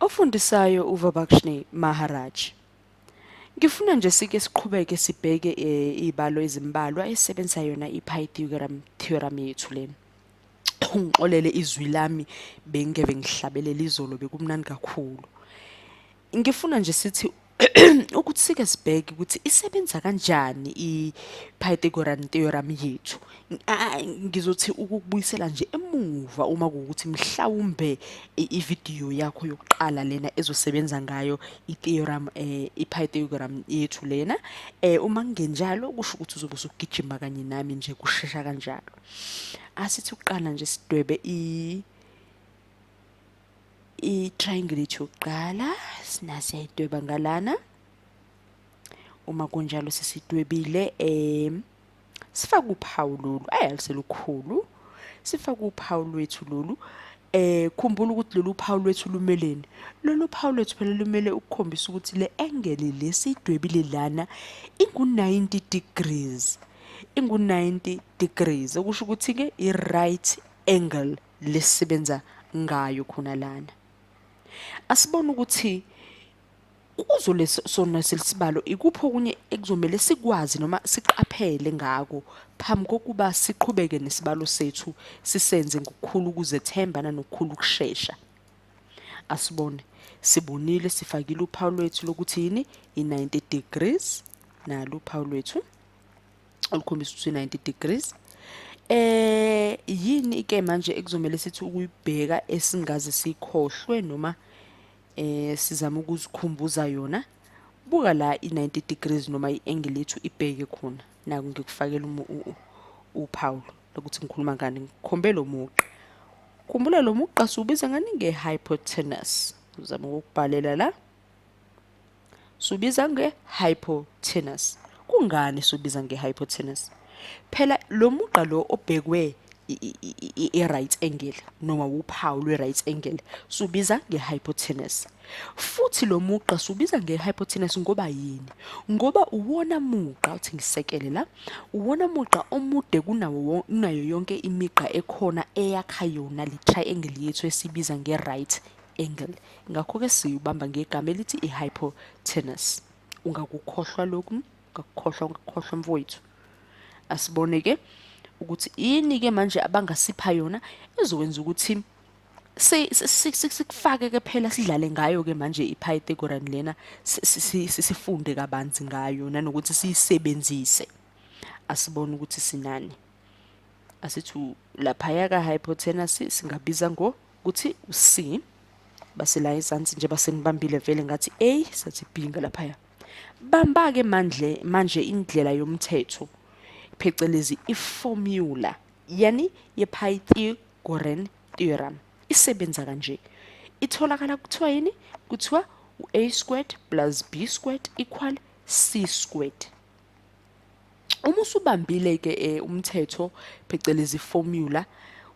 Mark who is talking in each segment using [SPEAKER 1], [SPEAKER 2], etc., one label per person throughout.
[SPEAKER 1] Ofundisayo uVabakshni Maharaj. Ngifuna nje sike siqhubeke sibheke eh, izibalo ezimbalwa esebenzisa yona iPythagoras theorem yethu lena. Ungixolele izwi lami bengeke ngihlabelela izolo bekumnandi kakhulu. Ngifuna nje sithi ukuthi sike sibheke ukuthi isebenza kanjani i-Pythagorean theorem yethu ngizothi ukubuyisela nje emuva uma kuwukuthi mhlawumbe ividiyo yakho yokuqala lena ezosebenza ngayo i-theorem eh, i-Pythagorean yethu lena eh, uma kungenjalo kusho ukuthi uzobe usugijima kanye nami nje kushesha kanjalo asithi ukuqala nje sidwebe i i-triangle yethu yokuqala sinasiyayidweba ngalana uma kunjalo sesidwebile um sifake uphawu lolu ayi aluselukhulu sifake uphawu lwethu lolu eh khumbula ukuthi lolu phawu lwethu lumeleni lolu phawu lwethu phela lumele ukukhombisa ukuthi le angle lesidwebile lana ingu-90 degrees ingu-90 degrees okusho ukuthi-ke i-right angle lesisebenza ngayo khona lana asibone ukuthi kuzo lesona selisibalo ikuphi okunye ekuzomele sikwazi noma siqaphele ngako phambi kokuba siqhubeke nesibalo sethu sisenze ngokukhulu ukuzethemba nanokukhulu ukushesha asibone sibonile sifakile uphawu lwethu lokuthi yini i-90 degrees nalo uphawu lwethu olukhombisa ukuthi 90 degrees eh yini ke manje ekuzomela sithi ukuyibheka esingaze sikhohlwe noma eh sizama ukuzikhumbuza yona buka la i90 degrees noma iangle yethu ibheke khona naku ngikufakela uphawu lokuthi ngikhuluma ngani ngikhombe lo muqa khumbula lo muqa siwubiza ngani ngehypotenuse uzama ukubhalela la subiza nge-hypotenuse kungani subiza nge-hypotenuse phela lo mugqa lo obhekwe i-right angle noma wuphawu lwe-right angle subiza nge-hypotenuse futhi lo mugqa subiza nge-hypotenuse ngoba yini ngoba uwona mugqa uthi ngisekele la uwona mugqa omude kunawo kunayo yonke imigqa ekhona eyakha yona le triangle yethu esibiza nge-right angle ngakho-ke siyibamba ngegama elithi i-hypotenus ungakukhohlwa lokhu ungakukhohlwa ungakukhohlwa mfowethu asibone-ke ukuthi yini-ke manje abangasipha yona ezokwenza ukuthi sikufake-ke phela sidlale ngayo-ke manje i-pythagoran lena sifunde kabanzi ngayo nanokuthi siyisebenzise asibone ukuthi sinani asithi laphaya ka-hypotenus singabiza ngo kuthi u-c basela ezansi nje basenibambile vele ngathi a sathi b ngalaphaya bamba-ke manje manje indlela yomthetho phecelezi i-formula yani ye-pythagorean theorem isebenza kanje itholakala kuthiwa yini kuthiwa u-a squared plus b squared equal c squared uma usubambile ke eh, umthetho phecelezi formula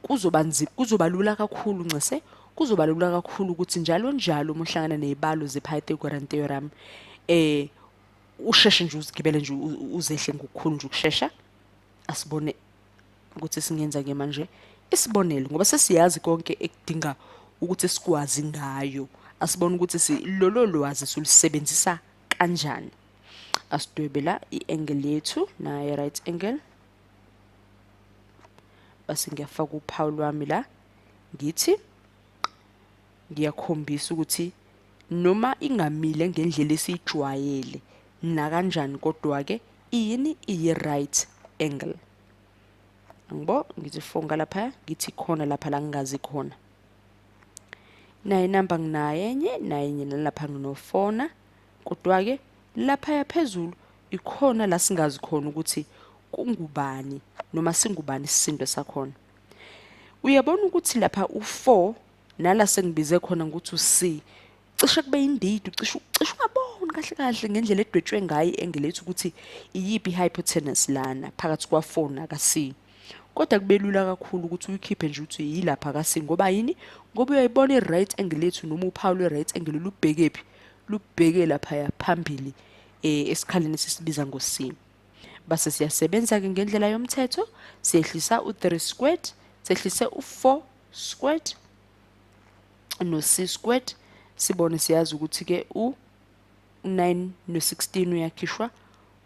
[SPEAKER 1] kuzoba nzima kuzoba lula kakhulu ncese kuzoba lula kakhulu ukuthi njalo njalo uma uhlangana nezibalo zePythagorean theorem eh usheshe nje uzigibele nje uzehle ngokukhulu nje ukushesha asibone ukuthi singenza ke manje isibonelo ngoba sesiyazi konke ekudinga ukuthi sikwazi ngayo asibone ukuthi lolo lwazi silusebenzisa kanjani asidwebe la i-angle yethu naye right angle base ngiyafaka uphawu lwami la ngithi ngiyakhombisa ukuthi noma ingamile ngendlela esiyijwayele nakanjani kodwa-ke iyini iyi-right angle angibo ngithi fonga lapha ngithi khona lapha la ngingazi khona naye namba nginaye enye naye enye nalapha nginofona kodwa-ke laphaya phezulu ikhona la singazi khona ukuthi kungubani noma singubani isisindo sakhona uyabona ukuthi lapha u-4 nala sengibize khona ngokuthi u-c cishe kube indidi ucishe ucishe ungaboni kahle kahle ngendlela edwetshwe ngayo engelethi ukuthi iyiphi hypotenuse lana phakathi kwa 4 na ka C kodwa kubelula kakhulu ukuthi uyikhiphe nje ukuthi yilapha ka C ngoba yini ngoba uyayibona i right angle lethu noma uphawu lwe right angle lubhekephi lubheke lapha ya phambili eh, esikhaleni sisibiza ngo C base siyasebenza ke ngendlela yomthetho siyehlisa u3 squared sehlise u4 squared no c squared sibone siyazi ukuthi ke u 9 no 16 uyakhishwa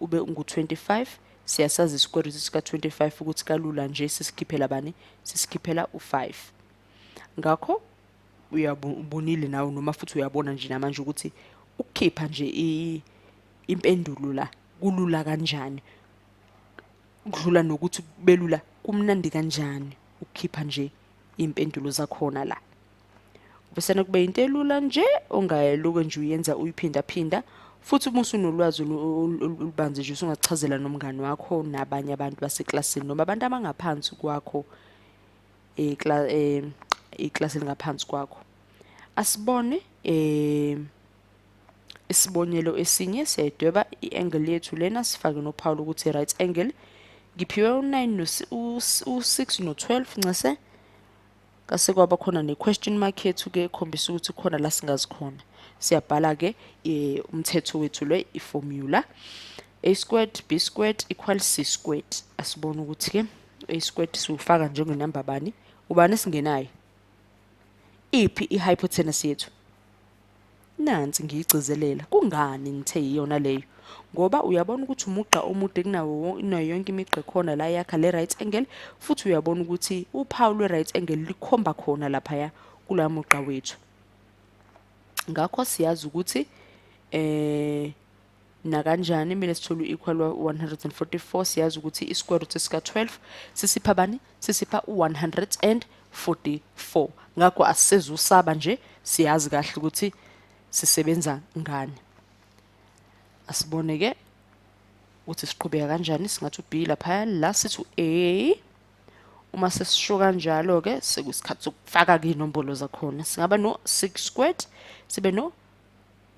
[SPEAKER 1] ube ungu 25 siyasazi square root sika 25 ukuthi kalula nje sisikhiphela bani sisikhiphela u 5 ngakho uyabonile nawe noma futhi uyabona nje namanje ukuthi ukukhipha nje impendulo la kulula kanjani kudlula nokuthi kubelula kumnandi kanjani ukukhipha nje impendulo zakhona la ubesena kube into elula nje ongayeluke nje uyenza uyiphinda phinda futhi uma usunolwazi olubanzi nje usungachazela nomngani wakho nabanye abantu baseklasini noma abantu abangaphansi kwakho eh, eh, iklasi elingaphansi kwakho asibone um Isibonelo esinye siyayidweba i-angle yethu lena sifake nophawu lokuthi right angle. Ngiphiwe u-9 u-6 no-12 ncese. Kase kwaba khona ne-question mark yethu ke ekhombisa ukuthi khona la singazi khona. Siyabhala ke eh, umthetho wethu le i-formula. A squared B squared equals C squared. Asibone ukuthi ke A squared siwufaka njengenamba bani? Ubani singenayo? Iphi i-hypotenuse yethu? Nansi ngiyigcizelela, kungani ngithe yiyona leyo? Ngoba uyabona ukuthi umugqa omude kunawo kunayo yonke imigqa ekhona la yakha le right angle futhi uyabona ukuthi uphawu lwe right angle likhomba khona laphaya kula mugqa wethu. Ngakho siyazi ukuthi eh nakanjani mina sithole u-equal wa-144 siyazi ukuthi i-square root sika-12 sisipha bani sisipha u-144 ngakho asisezusaba nje siyazi kahle ukuthi sisebenza ngani asibone-ke ukuthi siqhubeka kanjani singathi u-b laphaya la sithi u-a uma sesisho kanjalo-ke sekusikhathi sokufaka-ke iy'nombolo zakhona singaba no-six squared sibe no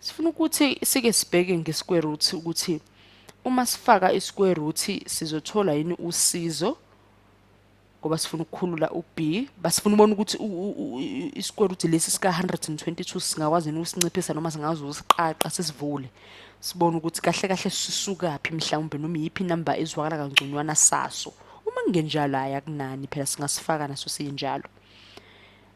[SPEAKER 1] Sifuna ukuthi sike sibheke nge-square root ukuthi uma sifaka i-square root sizothola yini usizo ngoba sifuna ukukhulula u-B basifuna ubona ukuthi i-square root lesi sika-122 singakwazi yini ukusinciphisa noma singazi ukusiqaqa sisivule sibone ukuthi kahle kahle sisukaphi mhlawumbe noma iyiphi inamba ezwakala kangconywana saso uma kungenjalo hhayi akunani phela singasifaka naso sinjalo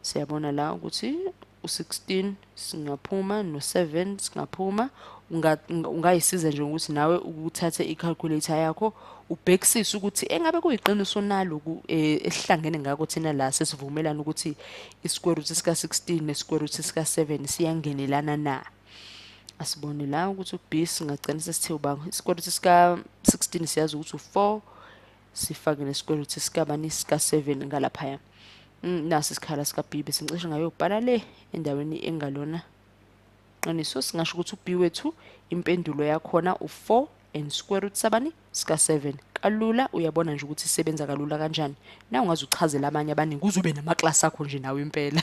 [SPEAKER 1] siyabona la ukuthi u-16 singaphuma no-7 singaphuma ungayisiza nje ukuthi nawe uthathe i-calculator yakho ubhekisise ukuthi engabe kuyiqiniso naloku eh, esihlangene ngako thina la sesivumelana ukuthi i-square root sika-16 ne-square root sika-7 siyangenelana na asibone la ukuthi u-b singagcina sesithe ubanga i-square root sika-16 siyazi ukuthi u-4 sifake nesikwelutho esikabani sika-7 ngalaphaya mm, nasi isikhala sikabibe sincishe ngayobhala le endaweni engalona qiniso singasho ukuthi ubi wethu impendulo yakhona u-4 and square root sabani sika-7 kalula uyabona nje ukuthi isebenza kalula kanjani na ungaze uchazele abanye abaningi kuze ube namaklasi akho nje nawe impela